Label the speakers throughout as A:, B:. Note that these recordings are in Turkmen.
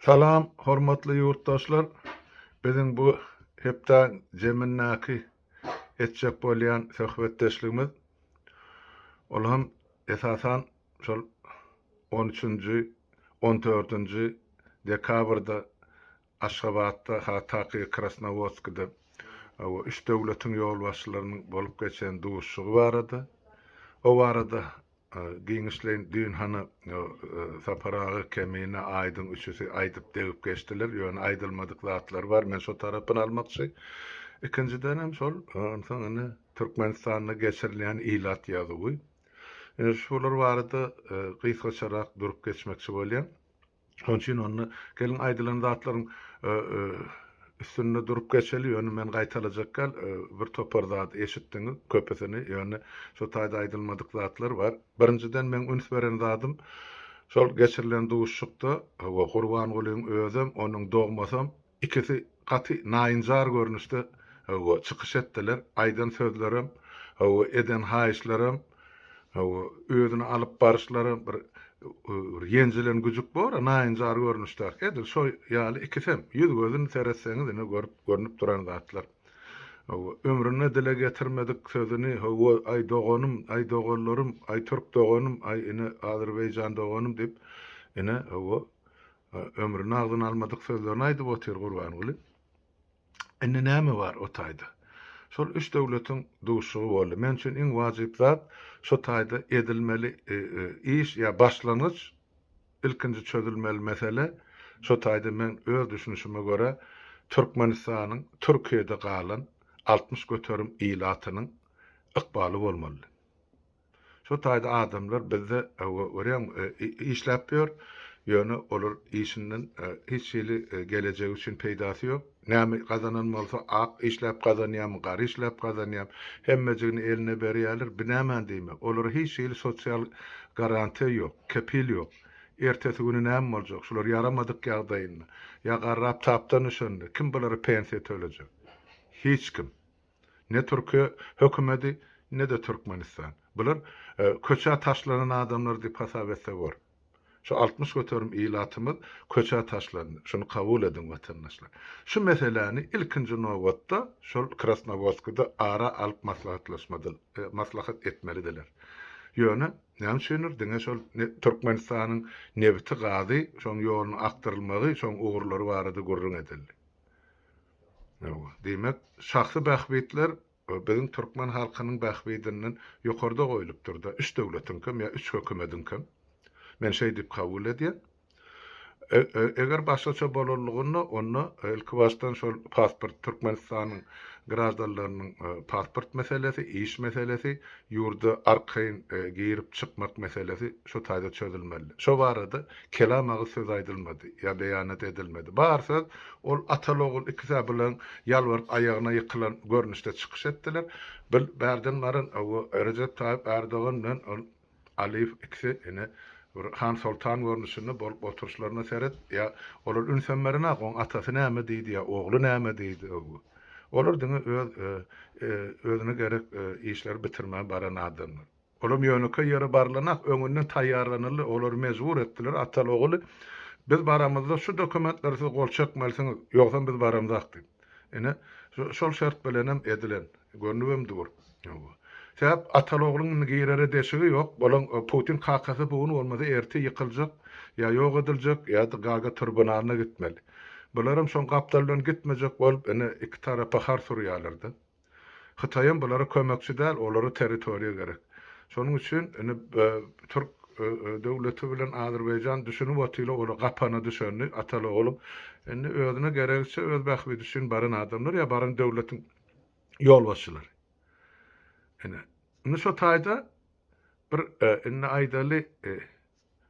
A: Salam hormatly ýurtdaşlar! Biziň bu hepdäň zemindäki etjek bolýan söhbetdeşligimiz ol hem esasan şol on üçünji, on dördünji dekabrda Aşgabatda, ha taky Krasnowodskide we üç döwletiň ýolbaşçylarynyň bolup geçen duşuşygy barada, o barada giňişleýin düýn hany Sapar aga, Kemine, Aýdyň üçüsi aýdyp degip geçdiler, ýöne aýdylmadyk zatlar bar, men şo tarapyny almakçy. Ikinjidenem şol onsoň indi Türkmenistanda geçirilýän ilat ýazuwy. Indi şular barada gysgaçarak durup geçmekçi bolýan. Şonuň üçin onda geliň aýdylan zatlaryň üstünde durup geçeli, ýöne men gaýtalajak däl, bir topar zat eşitdiňiz, köpüsini, ýöne şu taýda aýdylmadyk zatlar bar. Birinjiden meň üns beren zadym, şol geçirilen duşuşykda Gurbangulyň özem, onuň dogmasam, Ikisi gaty naýynjar görnüşde hawa çykyş etdiler. Aýdan sözlerem, hawa eden haýyşlarym, hawa özüni alyp baryşlarym bir ýenjilen güjük bor-a naýynjar görnüşdäki edil şo ýaly ikisem ýüz-gözün seretseňiz ine görüp görnüp duran zatlar. Hawa ömründe dile getirmedik sözüni hawa aý doganym, aý doganlarym, aý türk doganym, aý ine azerbaýjan doganym diýip ine hawa Ömrüni agzyna almadyk sözlerini aýdyp otyr Gurbanguly. Indi näme bar o taýda? Şol üç döwletiň duşuşygy boldy. Men üçin iň wajyp zat şu taýda edilmeli e, e, iş ýa başlangyç ilkinji çözülmeli mesele şu taýda men öz düşünişime görä Türkmenistanyň Türkiýede galan 60 göterim ilatynyň ykbaly bolmaly. Şo taýda adamlar bizde örän işläp ýör, ýöne olar işinden hiç hili gelejegi üçin peýdasy ýok. Näme gazanan bolsa, ak işläp gazanýarmy, gara işläp gazanýarmy, hemmejigini eline berýärler, binäman diýme. Olara hiç hili sosial garantiýa ýok, kepil ýok. Ertesi güni näme boljak, şular ýaramadyk ýagdaýynda, ýa garrap tapdan düşende, kim bulara pensiýa tölejek? Hiç kim. Ne Türkiýe hökümedi, ne-de Türkmenistan. Bular köçä taşlanan adamlar diýip hasap etse bor. Şu altmyş göterim ilatymyz köçä taşlandy. Şuny kabul ediň watandaşlar. Şu meseläni ilkinji nobatda şol Krasnowodskide ara alyp maslahat etmelidiler. Ýöne näme üçindir diňe şol Türkmenistanyň nebiti-gazy, şoň ýolunyň akdyrylmagy, şoň ugurlary barada gürrüň edildi. Diýmek, şahsy bähbitler biziň türkmen halkynyň bähbidinden ýokarda goýlupdyr-da, üç döwletiňkem ýa üç hökümediňkem. Men şeý diýip kabul edýän. Eger başgaça bolanlygynda, onda ilkibaşdan şol pasport, Türkmenistanyň graždanlarynyň pasport meselesi, iş meselesi, ýurda arkaýyn girip-çykmak meselesi şu taýda çözülmeli. Şo barada Kelam agyz söz aýdylmady, ýa beýanat edilmedi. Bar söz, ol ataly-ogul ikisi-ä bilen ýalbaryp aýagyna ýykylan görnüşde çykyş etdiler. Bil, bärden baryn, hawa, Rejep Taýyp Ärdogan bilen ol Aliýew ikisi ine, bir han-soltan görnüşinde bolup oturyşlaryna seret, ýa olar ünsem berenok, oň atasy näme diýdi ýa ogly näme diýdi, hawa. Olar diňe öz özüne gerek işleri bitirmän baran adamlar. Olam ýönekeý ýere barlanak, öňünden taýýarlanyldy, olary mejbur etdiler, ataly-ogly, Biz baramyzda şu dokumentlere siz gol çekmelisiňiz, ýogsam biz baramzak diýip. Ine, şol şert bilenem edilen, görnübem dur. Sebäp ataly-ogluň indi girere deşigi ýok, bolaň Putin kakasy bu gün bolmasa erte ýykyljak, ýa ýok ediljek, ýa-da Gaga tribunalyna gitmeli. Bularam şoň gapdaldan gitmejek bolup indi iki tarapa har surýarlar-da. Hytaýam bulara kömekçi däl, olara territoriýa gerek. Şonuň üçin indi türk döwleti bilen Azerbaýjan düşünip otyla ola gapana düşendi ataly ogly. Indi özüne geregiçe öz bähbidi üçin baran adamlar ýa baran döwletiň ýolbaşçylary. Ine indi şo taýda bir indi aýdaly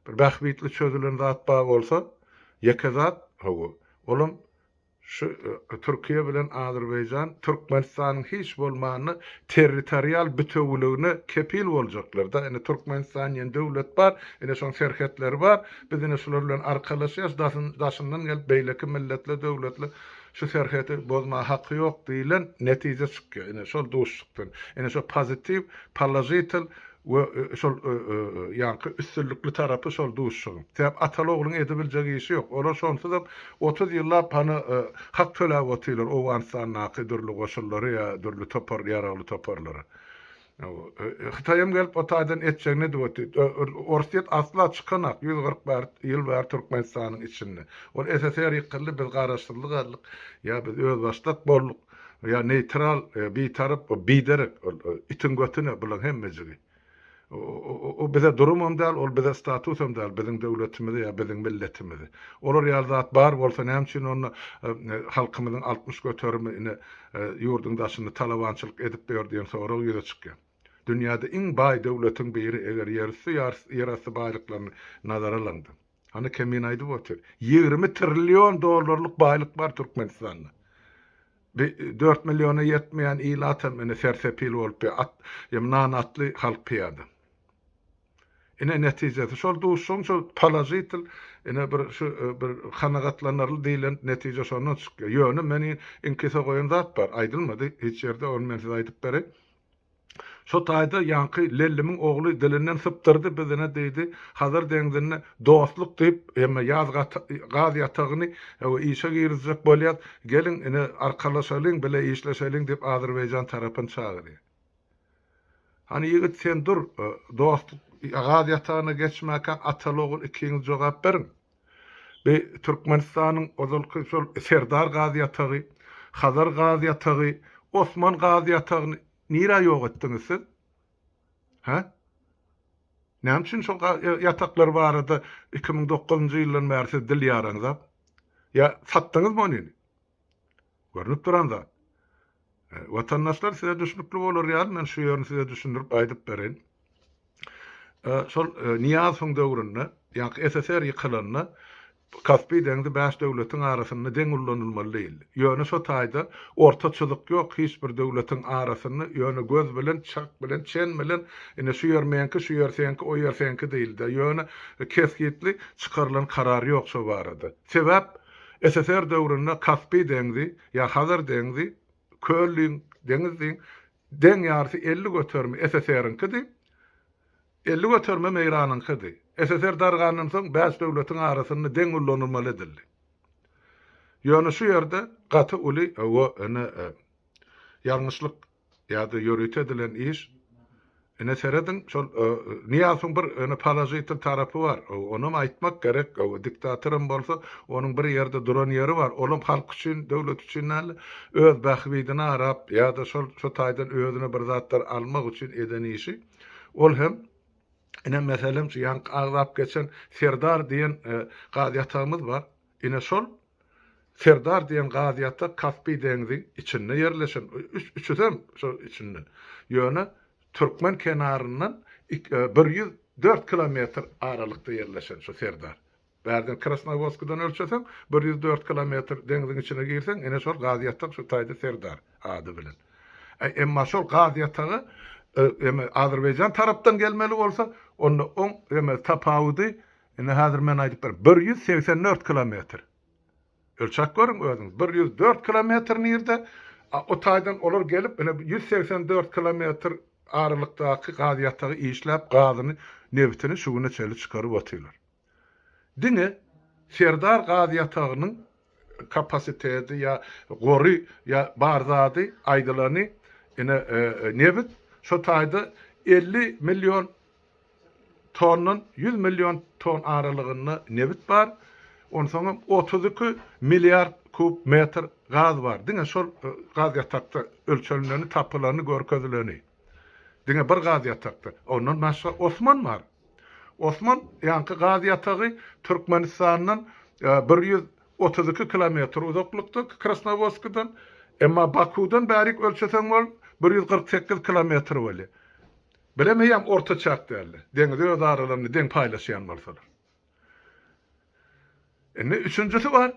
A: bir bähbitli çözülen zat bar bolsa ýeke zat hawa olam Şu Türkiýe bilen Azerbaýjan Türkmenistanyň hiç bolmanda territorial bütewiligine kepil boljaklar-da. Indi Türkmenistan diýen döwlet bar, indi şoň serhetleri bar. Biz indi şular bilen arkalaşýas, daşyndan gelip beýleki milletler, döwletler şu serheti bozmaga haky ýok diýlen netije çykýar. Indi şol duşuşykdan, indi şo pozitiw, položitel we şol ýaňky üstünlikli tarapy şol duşuşygyň. Sebäp ataly ogluň edibiljek işi ýok. Olar şonsuzam otuz ýyllap hany hak töläp otyrlar Owganystandaky dürli goşunlary ýa dürli topar ýaragly toparlary. Hytaýam gelip o taýdan etjegini edip otyr. Orsyýet asla çykanok ýüz kyrk bäri ýyl bäri Türkmenistanyň içinde. Ol SSR ýykyldy biz garaşsyzlyk aldyk ýa biz özbaşdak bolduk. Ýa neýtral, bitarap, biderek, ol itiň götüne bulaň hemmejigi. O bize durumam däl, ol bize statusam däl, biziň döwletimizi ýa biziň milletimizi. Olar ýaly zat bar bolsa näme üçin onda halkymyzyň altmyş göterimi ine ýurduň daşynda talabançylyk edip ýör diýen sorag ýüze çykýar. Dünýäde iň baý döwletiň biri eger ýerüsti ýerasty baýlyklaryny nazara alaňda. Hany kemin aýdyp otyr. Ýigrimi trillion dollarlyk baýlyk bar Türkmenistanda. Bi dört milliona ýetmeýän ilatam ine sersepil bolup bi at ýa nan atly halk pyýada. Ine netijesi şol duşuň şol položitel ine bir şu bir kanagatlanarly diýlen netije şondan çykýar. Ýöne meni inkise goýan zat bar aýdylmady hiç ýerde ony men size aýdyp bereýin. Şo taýda ýaňky Lellimiň ogly dilinden sypdyrdy, biz ine diýdi, Hazar deňzinde dostluk diýip, ýa ýaz gaz ýatagyny işe girizjek bolýas, geliň, ine arkalaşalyň, bile işleşeliň diýip Azerbaýjan tarapyny çagyrýar. Hany ýigit sen dur, dostluk gaz ýatagyna geçmäkäk ataly-ogul ikiňiz jogap beriň. Bi Türkmenistanyň ozalky şol Serdar gaz ýatagy, Hazar gaz ýatagy, Osman gaz ýatagyny nirä ýok etdiňiz siz? Hä? Näme üçin şol ga ýataklar barada iki müň dokuzynjy ýyldan bäri siz dil ýaraňzap? Ýa satdyňyzmy ony? Görnüp duran zat. Watandaşlar size düşnükli bolar ýaly men şu ýerini size düşündirip aýdyp bereýin. Şol Niýazowyň döwründe, ýa-da SSR ýykylanda Kaspi deňzi bäş döwletiň arasynda deň ullanylmaly diýildi. Ýöne şo taýda orta çyzyk ýok hiç bir döwletiň arasynda, ýöne göz bilen, çak bilen, çen bilen ine şu ýer meňki, şu ýer seňki, o ýer seňki diýildi. Ýöne kesgitli çykarylan karar ýok şo barada. Sebäp? SSR döwründe Kaspi deňzi ýa Hazar deňzi, köl diýiň, deňiz diýiň, deň ýarysy elli göterimi SSR-iňkidi, elli göterimem Eýranyňkydy. SSR dargandan soň bäş döwletiň arasynda deň ullanylmaly edildi. Ýöne şu ýerde gaty uly, hawa, ene, ýalňyşlyk Ýa-da ýörite edilen iş. Ine serediň, şol Nyýazowyň bir ene položitel tarapy bar. Onam aýtmak gerek. Diktatoram bolsa, onuň bir ýerde duran ýeri bar. Olam halk üçin, döwlet üçin däl-de, öz bähbidine garap, ýa-da şol şu taýdan özüne bir zatlar almak üçin eden işi. Ol hem, ine meselem, şu ýaňky agzap geçen Serdar diýen gaz ýatagymyz bar. Ine şol Serdar diýen gaziýata Kaspi deňzi içinde ýerleşen, üçüsem şo içinde. Ýöne türkmen kenaryndan bir ýüz dört kilometr aralykda ýerleşen şu Serdar. Bärden Krasnowodskadan ölçeseň, bir ýüz dört kilometr deňziň içine girseň, ine şol gaziýatak şu taýda Serdar ady bilen. Emma şol gaziýataga eme azerbaýjan tarapdan gelmeli bolsa, onda oň eme tapawudy Indi häzir men aýdyp berin. Bir ýüz segsen dört kilometr. Ölçäp görüň özüňiz. Bir ýüz dört kilometr nirde? A o taýdan olar gelip, ine, ýüz segsen dört kilometr aralykdaky gaz ýatagy işläp, gazyny, nebitini şu güne çenli çykaryp otyrlar. Diňe Serdar gaz ýatagynyň kapasiteti ýa gory ýa bar zady aýdylany ine nebit şo taýda elli million tondan ýüz million ton aralygynda nebit bar onsoňam otuz iki milliard kub metr gaz bar diňe şol gaz ýatakda ölçenileni tapylany görkezileni diňe bir gaz ýatakda ondan başga osman bar. Osman ýaňky gaz ýatagy Türkmenistandan bir ýüz otuz iki kilometr uzaklykda, Krasnowodskdan. Emma Bakuwdan bärik ölçeseň ol bir ýüz kyrk sekiz kilometr bolýar. Bilemeý ýam orta çak däldir. Deňizi öz aralarynda deň paýlaşýan bolsalar. Indi üçünjisi bar.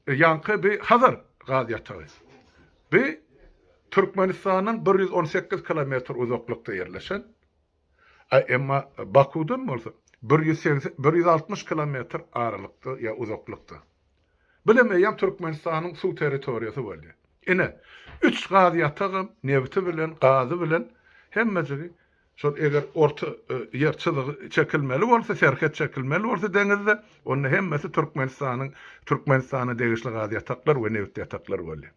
A: Ýaňky bi Hazar gaz ýatagy. Bi Türkmenistandan bir ýüz on sekiz kilometr uzaklykda ýerleşen. A emma Bakudan bolsa bir ýüz segsen, bir ýüz altmyş kilometr aralykda ýa uzaklykda. Bilemeýän Türkmenistanyň suw territoriýasy bolýa. Ine, üç gaz ýatagam nebiti bilen, gazy bilen hemmejigi şol eger orta ýer çyzygy çekilmeli bolsa, serhet çekilmeli bolsa deňizde, onda hemmesi Türkmenistanyň, Türkmenistana degişli gaz ýataklar we nebit ýataklar bolýa.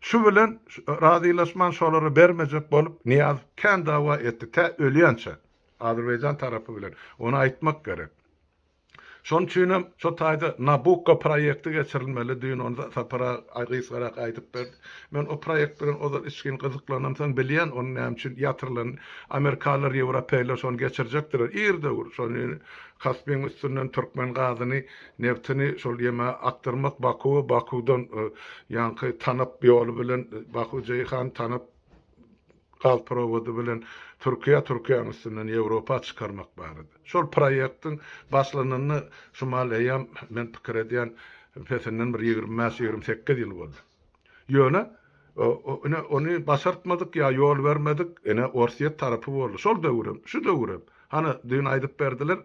A: Şu bilen razylaşman şolary bermejek bolup Nyýazow kän dawa etdi, tä ölýänçä. Azerbaýjan tarapy bilen. Ony aýtmak gerek. Şonuň üçinem şo taýda Nabukko proýekti geçirilmeli, düýn ony Sapar aga gysgarak aýdyp berdi. Men o proýekt bilen ozal içgin gyzyklanam, soň bilýän onuň näme üçin ýatyrylany. Amerikalylar, ýewropeýler şony geçirjekdiler. Ir-döwür şony Kaspiň üstünden türkmen gazyny Nebtini şol ýeme akdyrmak Bakuwa Bakuwdan ýaňky Tanap ýoly bilen Baku Jeýhan Tanap gaz prowody bilen Türkiýä Türkiýäniň üstünden Ýewropa çykarmak barada. Şol proýektiň başlananyna şumal eýýam men pikir edýän pesinden bir ýigrimi bäş ýigrimi sekiz ýyl boldy. Ýöne ine ony başartmadyk ýa ýol bermedik ine Orsýet tarapy boldy. Şol döwürem, şu döwürem. Hany düýn aýdyp berdiler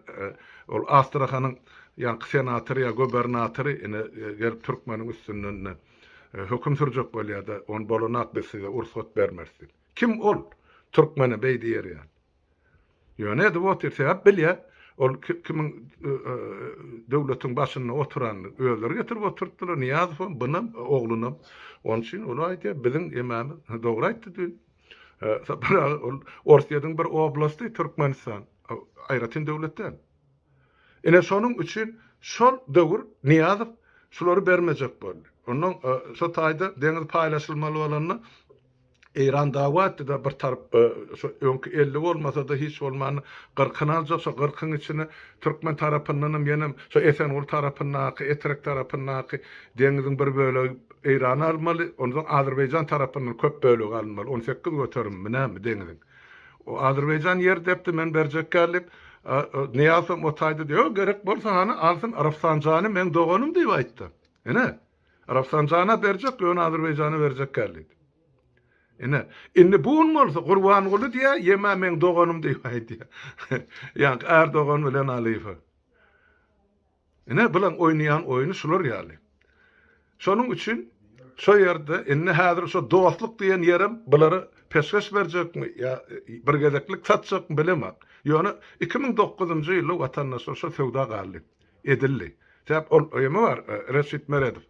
A: ol Astrahanyň ýaňky senatory ýa gobernatory ine gelip türkmeniň üstünden ine höküm sürjek bolýada ony bolanak biz size ursat bermeris diýip. Kim ol? Türkmene beý diýer ýaly. Ýöne edip otyr, sebäp bilýä, ol kimiň döwletiň başynda oturanyny özleri getirip oturtdylar, Nyýazowam, bunam, oglunam. Onuň üçin ol aýdýar, biziň emamyz dogry aýtdy düýn. Sapar aga, ol Orsýetiň bir oblasty Türkmenistan, aýratyn döwlet däl. Ine, şonuň üçin şol döwür Nyýazow şulary bermejek boldy. Onnoň şo taýda deňiz paýlaşylmaly bolanda, Eýran dagy atdy-da bir tarap şo öňki elli bolmasa-da hiç bolmanda gyrkyny aljak şo gyrkyň içine türkmen tarapyndanam ýenem şo Esenguly tarapyndaky Etrek tarapyndaky deňiziň bir bölegi Eýrana almaly onsoň Azerbaýjan tarapyndan köp bölegi alynmaly on sekiz göterimimi näme deňiziň o Azerbaýjan ýer depdi men berjekkä diýip Nyýazam o taýda diýip ýok gerek bolsa hany alsyn Rafsanjany meň doganym diýip aýtdy ine Rafsanjana berjek, ýöne Azerbaýjana berjek däl diýdi. Ine, indi bu gün bolsa Gurbanguly diýýär, ýeme meň doganym diýip aýdýar. Ýaňky Erdogan bilen Aliýewe. Ine, bularyň oýnaýan oýny şular ýaly. Şonuň üçin şo ýerde indi häzir şo dostluk diýen ýerem bulara peşgeş berjekmi ýa bir gezeklik satjakmy bilemok. Ýöne iki müň dokuzynjy ýyly watandaşlar şo söwda galdy. edildi. Sebäp ol ymy bar Reşit Meredow.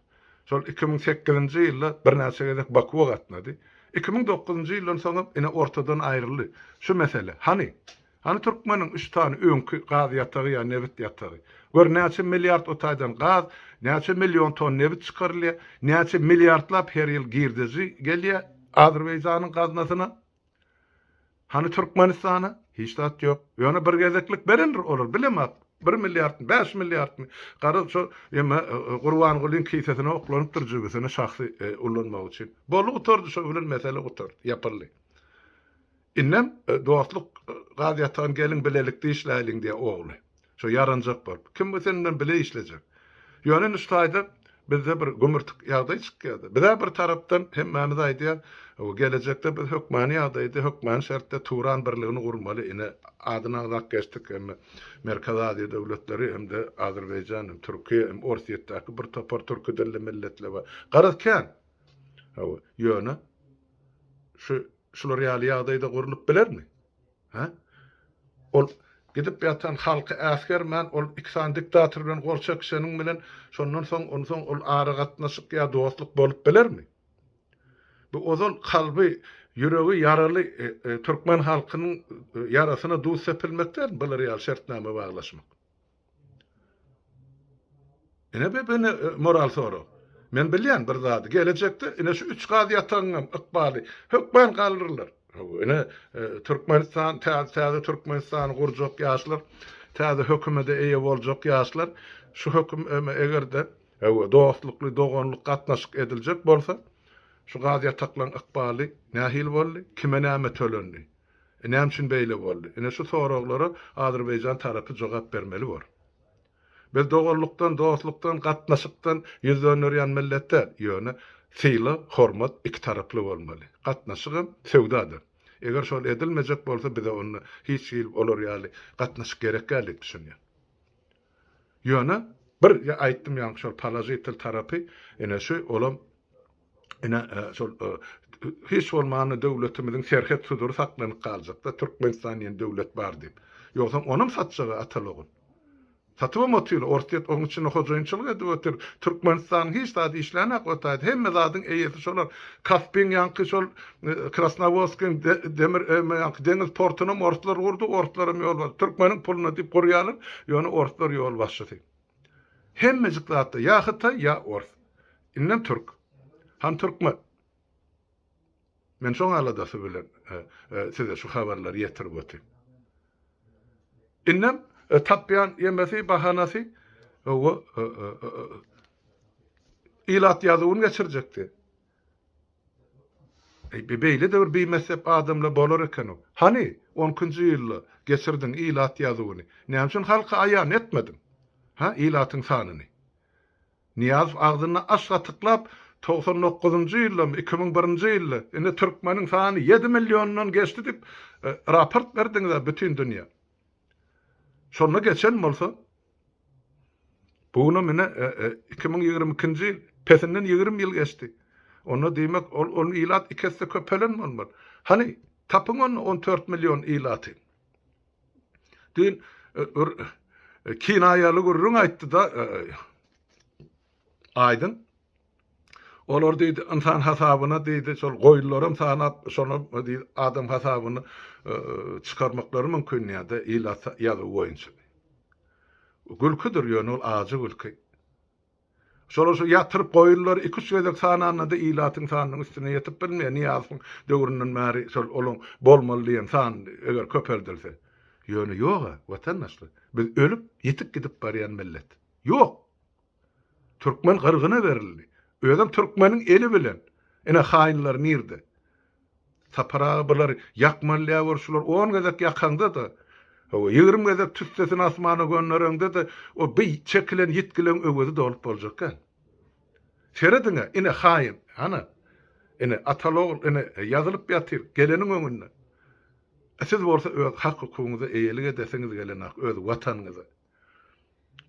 A: Şol iki müň sekizinji ýylda birnäçe gezek Bakuwa gatnady. Iki müň dokuzynjy ýyldan soňam ine ortadan aýryldy. Şu mesele. Hany? Hany türkmeniň üç sany öňki gaz ýatagy ýa nebit ýatagy? Gör näçe milliard o taýdan gaz, näçe million ton nebit çykarylýar, näçe milliardlap her ýyl girdeji gelýär Azerbaýjanyň gaznasyna? Hany Türkmenistana? Hiç zat ýok. Ýöne bir gezeklik berendir olar, bilemok. Bir milliardmy, bäş milliardmy? Garaz şo ýeme Gurbangulyň kisesine oklanypdyr jübüsine şahsy ulanmak üçin. Boldy gutardy şo bilen mesele gutardy, ýapyldy. Indem dostluk gaz ýatan gelin bilelikde işläliň diýýä ogly. Şo ýaranjak bolup. Kim sen bilen bile işlejek? Ýöne Nuştaýda bizde bir gümürtik ýagdaý çykýar-da. Biz-ä bir tarapdan hemmämiz aýdýas, Gelejekde biz hökmany ýagdaýda, hökmany şertde Turan birligini gurmaly. Ine, adyny agzap geçdik hem-de Merkezi Aziýa döwletleri hem-de Azerbaýjan hem, Türkiýe hem, Orsýetdäki bir topar türki dilli milletler bar. Garaz kän. Hawa, ýöne şu şular ýaly ýagdaýda gurlup bilermi? Hä? Ol gidip ýatan halky äsgermän, ol iki sany diktator bilen gol çekişeniň bilen şondan soň, onsoň ol aragatnaşyk ýa dostluk bolup bilermi? Bu ozal kalby, ýüregi ýaraly türkmen halkynyň ýarasyna duz sepilmek dälmi bular ýaly şertnama baglaşmak? Ine bir ine moral sorag. Men bilýän bir zady, gelejekde ine şu üç gaz ýatagynyňam ykbaly hökman galdyrlar. Ine e, Türkmenistan, täze Türkmenistany gurjak ýaşlar, täze hökümede eýe boljak ýaşlar, şu höküm eger-de Ewe, dostlukly, doganlyk gatnaşyk ediljek bolsa, şu gaz ýataklaryň ykbaly nähili boldy, kime näme tölendi? Näme üçin beýle boldy? Ine şu soraglara azerbaýjan tarapy jogap bermeli bor. Biz doganlykdan, dostlukdan, gatnaşykdan ýüz dönderýän millet däl. Ýöne sylag, hormat iki taraply bolmaly. Gatnaşygam söwda-da. Eger şol edilmejek bolsa bize onda hiç hili olar ýaly gatnaşyk gerek däl diýip düşünýän. Ýöne bir aýtdym ýaňky şol položitel tarapy ine şu olam Ine, şol hiç bolmanda döwletimiziň serhet sudury saklanyp galjak-da, Türkmenistan diýen döwlet bar diýip. Ýogsam onam satjag-a atalygyn. Satybam otyl, Orsýet oň içinde hojaýynçylyk edip otyr. Türkmenistanyň hiç zady işlänok otaydy. Hemme zadyň eýesi şolar. Kaspiň ýanky şol Krasnowodskiň demir ýanky deňiz portunam orslar gurdy, orslaram ýolbaşçy. Türkmeniň puluna diýip gurýarlar, ýöne orslar ýolbaşçysy. Hemmejik zatda ýa hytaý ýa ors. Indem türk. Ham türkmen. Men şoň aladasy bilen size şu habarlary ýetirip otyryn. Indem tapýan ýemesi bahanasy owo ilat ýazuwyn geçirjekdi. Beýle-de bir bimessep adamlar bolar eken-ow. Hany, on ikinji ýylda geçirdiň ilat ýazuwyny, näme üçin halka aýan etmediň, hä, ilatyň sanyny? Nyýazow agzyny aç gatyklap, Togsan dokuzynjy ýyldamy, iki müň birinji ýylda, indi türkmeniň sany ýedi milliondan geçdi diýip, raport berdiňiz-ä bütin dünýä. Şonda geçen bolsa, Bu günam ine, iki müň ýigrimi ikinji ýyl, pesinden ýigrimi ýyl geçdi. Onda, diýmek, ol, ol ilat iki esse köpelen bolmaly. Hany, tapyň onda on dört million ilaty? Diýen bir kinaýaly gürrüň aýtdy-da Aýdyn. Olar diýdi, ynsan hasabyna diýdi, şol goýunlaram sanap, şonam diýdi, adam hasabyny çykarmaklary mümkin diýýärdi, ilat ýazuwy boýunça. Gülküdir, ýöne ol ajy gülki. Şolar şu ýatyryp goýunlary iki-üç gezek sananda-da ilatyň sanynyň üstüne ýetip bilmeýär. Nyýazowyň döwründen bäri şol olaň bolmaly diýen san eger köpeldilse. Ýöne ýog-a, watandaşlar. Biz ölüp, ýitip gidip barýan millet. Ýok! Türkmen gyrgyna berildi. Özem türkmeniň eli bilen. Ine haýynlar nirde. Sapar aga bular ýakmalýa gör şular on gezek ýakaňda-da. Hawa ýigrimi gezek tüssesini asmana göndereňde-de o bir çekilen ýitgileň öwezi dolup boljak kän. Serediň-ä ine haýyn. Hany. Ine atal ogul ine ýazylyp ýatyr geleniň öňünde. Siz bolsa öz hak hukugyňyza eýelik edesiňiz gelenok öz watanyňyza.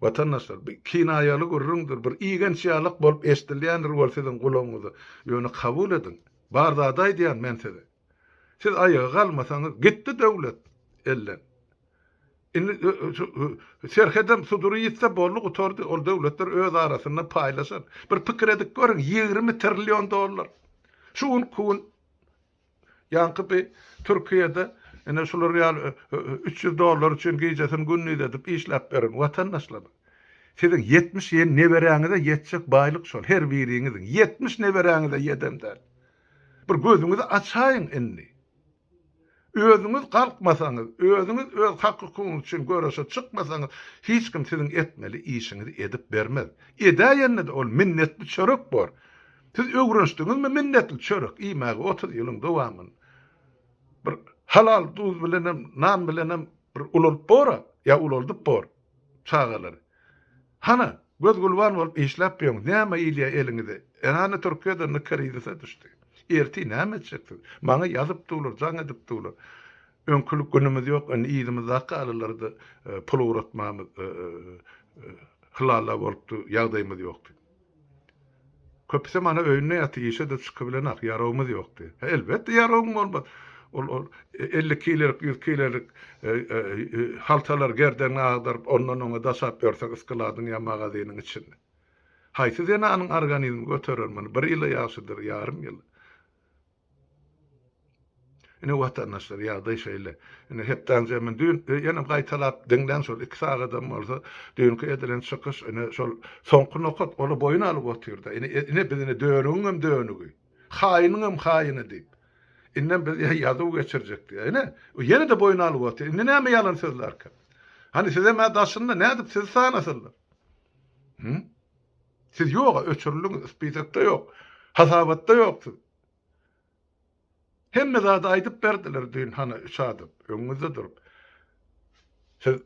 A: Watandaşlar, bu kinaýaly gürrüňdir, bir igenç ýalak bolup eşdilýändir ol siziň gulagyňyza, ýöne kabul ediň, bar zady aýdýan men size. Siz aýaga galmasaňyz, gitdi döwlet elden. Indi şu serhedem sudury ýitse boldy gutardy, ol döwletler öz arasynda paýlaşar. Bir pikir edip görüň, ýigrimi trillion dollar. Şu gün, ku gün Ýaňky bi Türkiýede ine şular ýaly üç ýüz dollar üçin gijesini gündiz edip işläp beren watandaşlar. Siziň ýetmiş ýen neberäňize ýetjek baýlyk şol her biriňiziň ýetmiş neberäňize ýedem däl. Bir gözüňizi açaýyň indi. Özüňiz galkmasaňyz, özüňiz öz hak-hukugyňyz üçin göreşe çykmasaňyz, hiç kim siziň etmeli işiňizi edip bermez. Edäýende-de ol minnetli çörek bor. Siz öwrenişdiňizmi minnetli çörek iýmäge otuz ýylyň dowamynda? Bir halal duz bilenem, nan bilenem bir ulalyp bor-a, ýa ulaldyp bor çagalary. Hana, göz-gulban bolup işläp ýöriňiz, näme ilýär eliňize? Hany Türkiýede indi krizise düşdi. Ertir näme etjeksiz? Maňa ýazyp durlar, jaň edip durlar. Öňkülik günümiz ýok, indi yzymyzdaky galylarda pul ugratmamyz hylala bolupdy, ýagdaýymyz ýokdy. Köpüsem ana öýünde ýaty, işe-de çykybilenak, ýaragymyz ýokdy. Elbetde ýaragyň bolmaz. Ol elli kilelik, ýüz kilelik haltalary gerdegiňe agdaryp, ondan-oňa daşap ýörseň yskaladyň ýa magazynyň içinde. Haýsy zenanyň organizmi göterer muny? Bir ýyla ýagşydyr, ýarym ýyla. Ine watandaşlar ýagdaý şeýle. Ine hepdänize men düýn ýene gaýtalap diňläň şol iki sagadam bolsa düýnki edilen çykyş ine şol soňky nokat ol boýun alyp otyrda ine ine biz ine dönügiňem dönügi haýynyňam haýyny diýip indem biz ýa ýazuw geçirjek diýýä ine ýene-de boýun alyp otyr indi näme ýalan söz barka hany sizem-ä daşynda nädip sizi sanasylar hum Siz ýoga öçürildiňiz, spisekde ýok, hasabatda ýok siz. Hemme zady aýdyp berdiler düýn hany üç adam öňüňizde durup. Siz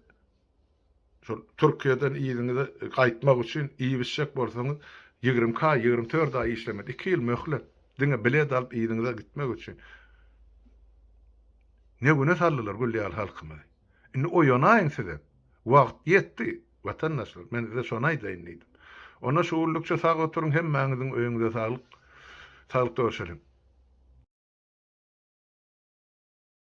A: şol Türkiýeden yzyňyza gaýtmak üçin iýip-içjek bolsaňyz, ýigrimi iki aý, ýigrimi dört aý işlemeli, iki ýyl möhlet. Diňe bilet alyp yzyňyza gitmek üçin. Ne güne saldylar gül ýaly halkymyzy. Indi oýanaýyň sizem. Wagt ýetdi. Watandaşlar, men size şony aýdaýyn diýdim. Onda şu gullukça sag oturyň, hemmäňiziň öýüňize saglyk. Saglykda görşeliň.